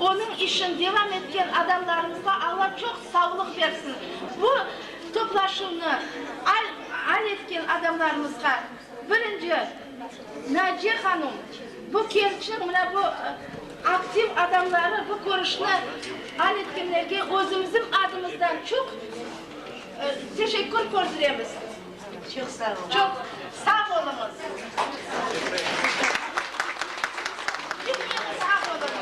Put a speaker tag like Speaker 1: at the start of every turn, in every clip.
Speaker 1: Onıñ işin devam etken adamlarımızğa Alla çoq savlıq bersin. Bu toplaşuvnı al etken adamlarımızğa birinci Naciye hanum, bu kerçniñ, mına bu aktiv adamları bu körüşni al etkenlerge özümizniñ adımızdan çoq teşekkür kördiremiz. Çoq sağ oluñ. Çoq sağ oluñız. Sağ oluñız.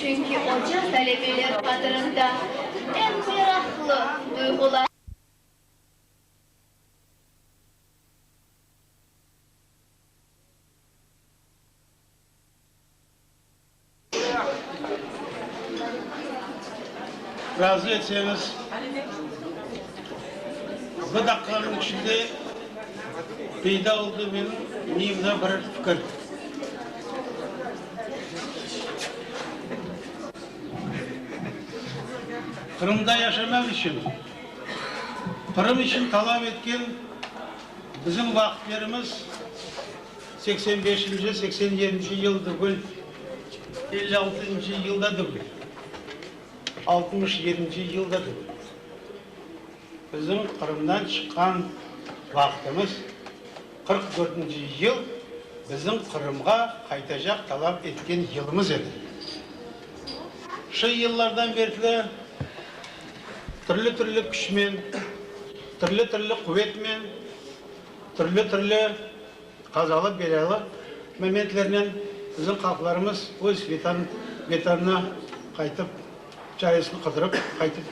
Speaker 1: Çünki oca talebeler qadırında eñ meraqlı duyğular. Razı etseñiz, bir daqiqanıñ içinde peyda oldı menim miyimde bir fikir. Qırımda yaşamaq içün, Qırım içün talap etken bizim vaqıtlerimiz seksen beşinci, seksen yedinci yıl degil, elli altıncı yıl da degil, altmış yedinci yıl da degil. Bizim Qırımdan çıqqan vaqıtımız. Qırq dörtünci yıl bizim Qırımğa qaytacaq talap etken yılımız edi. Şu yıllardan berkli türlü-türlü küçmen, türlü-türlü quvetnen, türlü-türlü qazalı-belâlı momentlernen bizim halqlarımız öz Vetanına qaytıp, çaresini qıdırıp qaytıp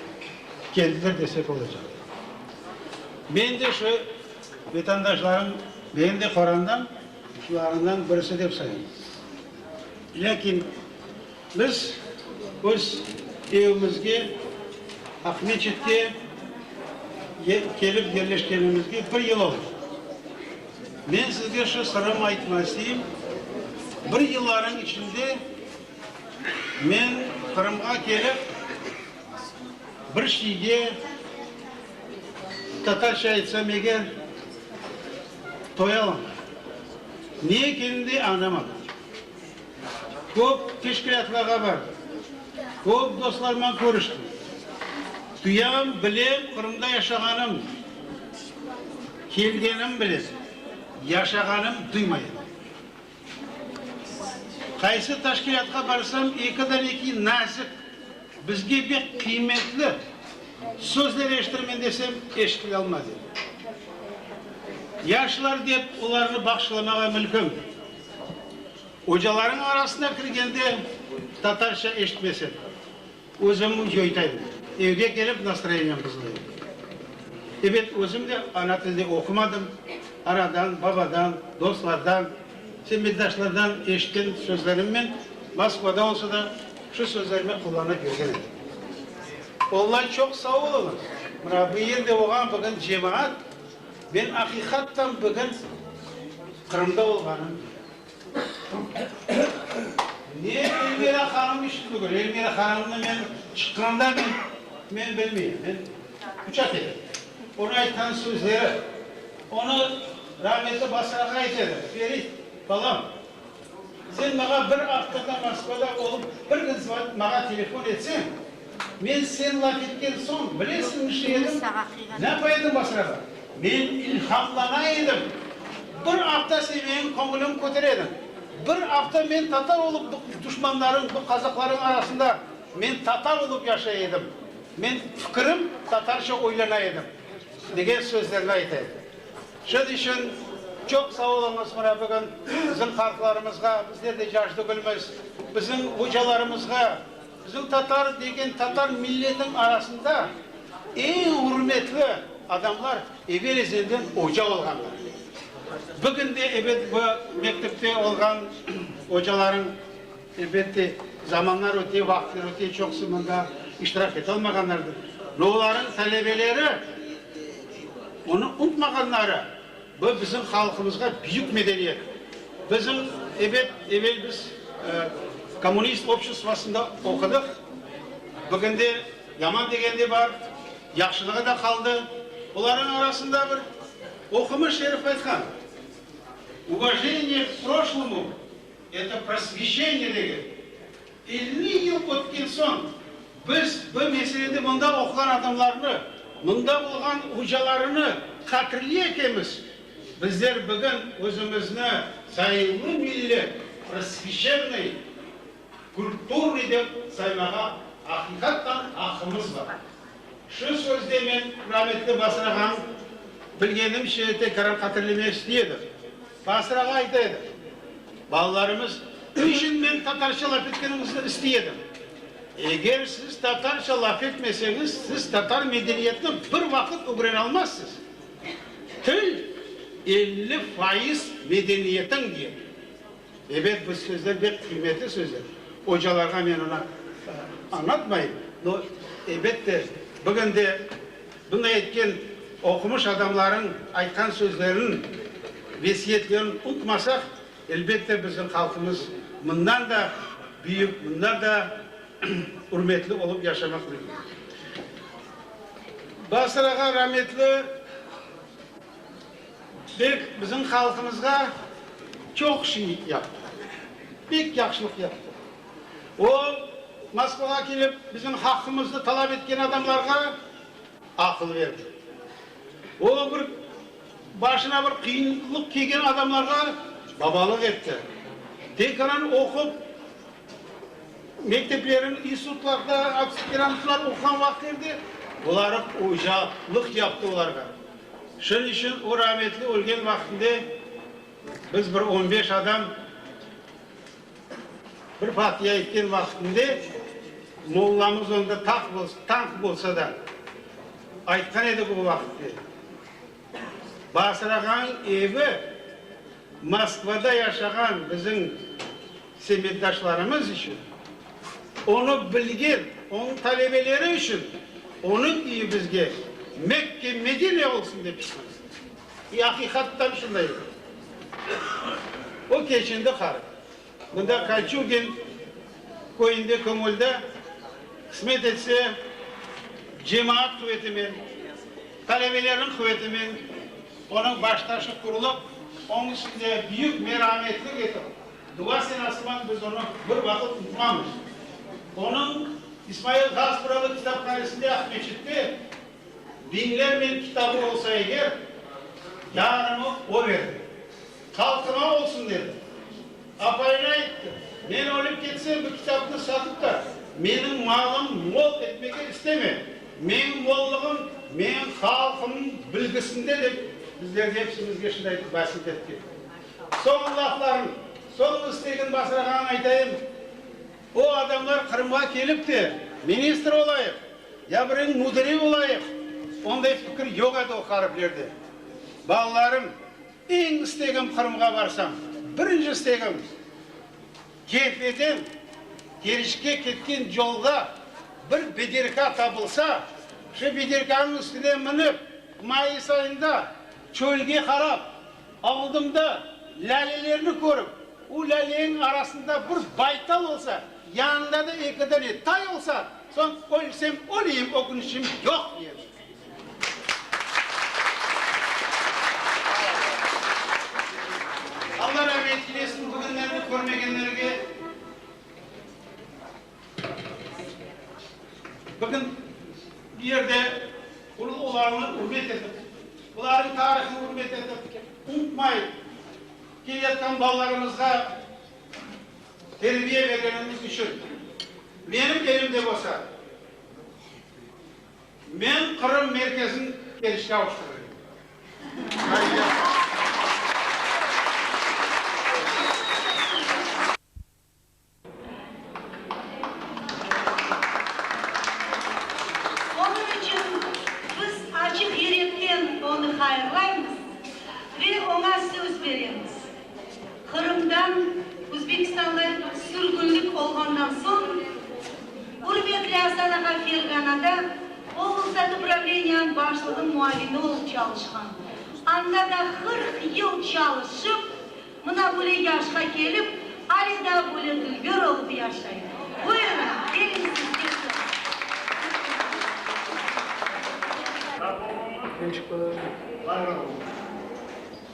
Speaker 1: keldiler desek olacaq. Men de şu Vatandaşlarım meni de qorandan şularından birisi dep sayım. Lâkin biz öz evimizge, Aqmescitke kelip yerleşkenimizge bir yıl oldı. Men sizge şu sırım aytma isteyim, bir yıllarıñ içinde men Qırımğa kelip bir şeyge, Tatarca aytsam eger, toy alamlar. Ne ekenin de añlamadım. Köp teşkilâtlarğa bardım. Köp dostlarımnan körüştim. Duyam, bilem, Qırımda yaşağanım, kelgenim bilem, yaşağanım duymayım. Qaysı teşkilâtqa barsam, ekiden eki nazik, bizge bek qıymetli sözler eşitirmen desem, eşitilealmay dedi. Yaşlar dep olarnı bağışlamağa mülküm. Ocalarınıñ arasına kirgende, tatarca eşitmesem, Özüm yoytayım. Evge kelip nastroyeniyem buzılayım. Ebet, özüm de ana tilde oqumadım, anadan, babadan, dostlardan, semmetdaşlardan eşitken sözlerimnen Moskvada olsa da şu sözlerimi qullanıp yürgen edim. Onlar çoq sağ oluñız. Mına bu yerde olğan bugün cemaat, men aqiqattan bugün Qırımda olğanım Ne Elmira hanım içün bugün? Elmira hanımnı men çıqqanda men, men bilmeyim, men uçat edim. Onı aytqan sözleri, onı rahmetli Basrağa aytedim, Ferit, balam, sen maña bir avtorda Moskvada olıp, bir gün zvat, maña telefon etseñ, Men sen laf etken soñ, bilesiñizmi ne edim? Ne qoyadım basrağa? Men ilhamlana edim. Bir afta sen menim köñülim kötere ediñ. Bir afta men tatar olıp bu duşmanlarıñ, bu qazaqlarıñ arasında men tatar olıp yaşay edim. Men fikirim tatarca oylana edim, degen sözlerini ayta edi. Şunıñ içün çoq sağ oluñız, mına bugün bizim halqlarımızğa, bizler de cac tügülmiz, bizim ocalarımızğa, Bizim tatar degen tatar milletiniñ arasında eñ ürmetli adamlar evel ezelden oca olğanlar. Bugün de ebet bu mektepte olğan ocalarıñ elbette zamanlar öte, vaqıtlar öte çoqusı mında iştirak ete olmağanlardır. Olarıñ talebeleri onı unutmağanları. Bu bizim halqımızğa büyük medeniyet. Bizim, ebet, evel biz kommunist obşestvosında oqudıq, bugün de yaman degen de bar, yahşılığı da qaldı. Bularnıñ arasında bir oqumış herif aytqan, Uvojeniye k proşlomu, eto prosveşeniye degen. Elli yıl ötken soñ, biz bu meselede mında oquğan adamlarnı, mında olğan ocalarını qatirley ekemiz. Bizler bugün özümizni zayıllı millet, prosveçennıy, kulturnıy dep saymağa aqiqattan aqqımız bar. Şu sözde men rametli Basır ağanıñ bilgenimce tekrar qatirlemek isteyedim. Basırağa ayta edim, balalarımız, niçün men tatarca laf etkeniñizni istey edim? Eger siz tatarca laf etmeseñiz, siz tatar medeniyetini bir vaqıt ögrene almazsız. Til, elli faiz medeniyetiñ, diy edim. Ebet, bu sözler bek qıymetli sözler. Ocalarğa men onı añlatmayım, no, ebet de, bugün de Bunday etken oqumış adamlarnıñ aytqan sözlerin, vesiyetlerin unutmasaq, elbette, bizim halqımız bundan da büyük, bundan da ürmetli olup yaşamaq mümkün. Basırağa rametli. Bek bizim halqımızğa çoq şey yaptı, pek yahşılıq yaptı. O, Moskvağa kelip, bizim haqqımıznı talap etken adamlarğa aqıl berdi. O, bir başına bir qıyınlıq kelgen adamlarğa babalıq etti. Tekaran oqup, mekteplerin, institutlarda aspirantura oquğan vaqıtı edi, buları ocalıq yaptı olarğa. Şunıñ içün o rahmetli ölgen vaqtında biz bir on beş adam bir fatiya aytken vaqtında mollamız onda tanq bolsa da aytqan edik o vaqıtnı, Basırağanıñ evi Moskvada yaşağan bizim semetdaşlarımız içün, onı bilgen onıñ talebeleri içün onıñ üyi bizge Mekke, Medine olsun dep istemiz. İ, aqiqattan şunday edi. O keçindi qarı. Bunda Kaçugin köyünde Kömülda, qısmet etse, cemaat quvetinen, talebelerniñ quvetinen onıñ baştaşı qurulıb, onıñ içinde büyük merametlik etip, dua senasıman biz onı bir vaqıt unutmamız. Onıñ İsmail Gaspıralı kitaphanesinde Aqmescitte biñlernen kitabı olsa eger, yarımı o verdi. Halqıma olsun dedi. Apayına ayttı, Men ölip ketsem, bu kitapnı satıp da, menim malım mol etmege isteme. Menim mollığım menim halqımnıñ bilgisinde, dep bizlerge epsimizge şunday vasit etti. Soñu lafların, soñu istegin basırağanın aytayım, o adamlar Qırımğa kelip de, ministr olayıq, ya biriniñ müdiri olayıq, onday fikir yoq edi o hariflerde. Balalarım! Eñ istegim Qırımğa barsam, birinci istegim, Kefeden Keriçke ketken yolda bir bederka tapılsa, şu bederkanıñ üstüne minip, mayıs ayında çölge qarap, oldımda lâlelerni körip, o lâleñiñ arasında bir baytal olsa, yanında da eki dane tay olsa, soñ ölsem öleyim, ökünişim yoq, edi. Alla ramet eylesin, bugünlerni körmegenlerge bugün bu yerde ulu olarnı ürmet etip, olarnıñ tarihını ürmet etip, unutmay keleyatqan balalarımızğa terbiye bergenimiz içün, menim elimde bolsa, Men Qırım merkezin Keriçke avuştırayım. Onıñ içün biz açıq yürekten onı hayırlaymız ve oña söz beremiz. Qırımdan Özbekistanğa sürgünlik olğandan soñ, ürmetli Astanağa ferğanada oblstat upravleniyanıñ başlığınıñ muavini olıp çalışqan. Anda da qırq yıl çalışıp, mına böyle yaşqa kelip, ale daa böyle dülgür olıp yaşay. Buyurıñ, geliñ sizge söz. Sağ olun. Var olun.